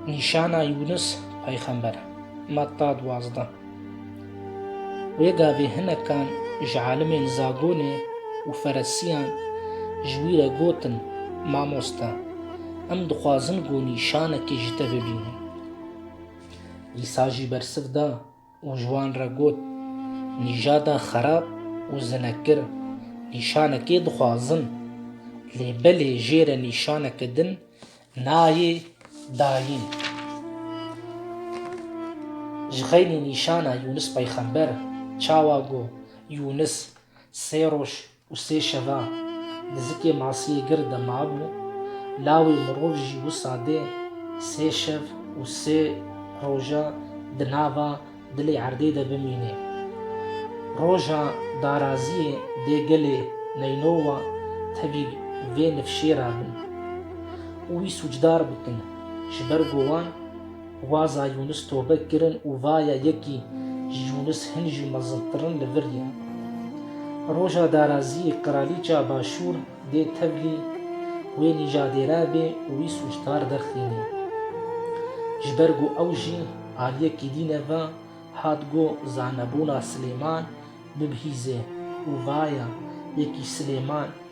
Nîşana Yûnis peyxember, Metta duwazdeh. Wê gavê hinekan ji alimên Zagonê û Feresiyan ji wî re gotin, Mamoste, em dixwazin ku nîşanekê ji te bibînin. Îsa jî bersiv da. û ji wan re got, Nîjada xerab û zinekir nîşanekê dixwazin, lê belê jê re nîşaneke din nayê dayîn. Ji xeynî nîşana Yûnis peyxember çawa got, Yûnis sê roj Û sê şeva di zikê masiyê gir de mabû, lawê mirov jî wisa dê sê şev û sê roja di nava dilê erdê de bimînê. Roja daraziyê dê gelê Neynowa tevî vê nifşêra bin û wî sûcdar bikin ji ber ku wan, Waza Yûnis tobe kirin û vaye yekî ji Yûnis hin jî mezintir in li vir ye. Roja daraziyê qiralîça başûr dê tevlî wê nîjadêre bê û wî sûcdar derxînê. Ji ber ku ew jî aliyê kîdîne ve hat ku zanebûna Silêman bibihîze û vaye yekî Silêman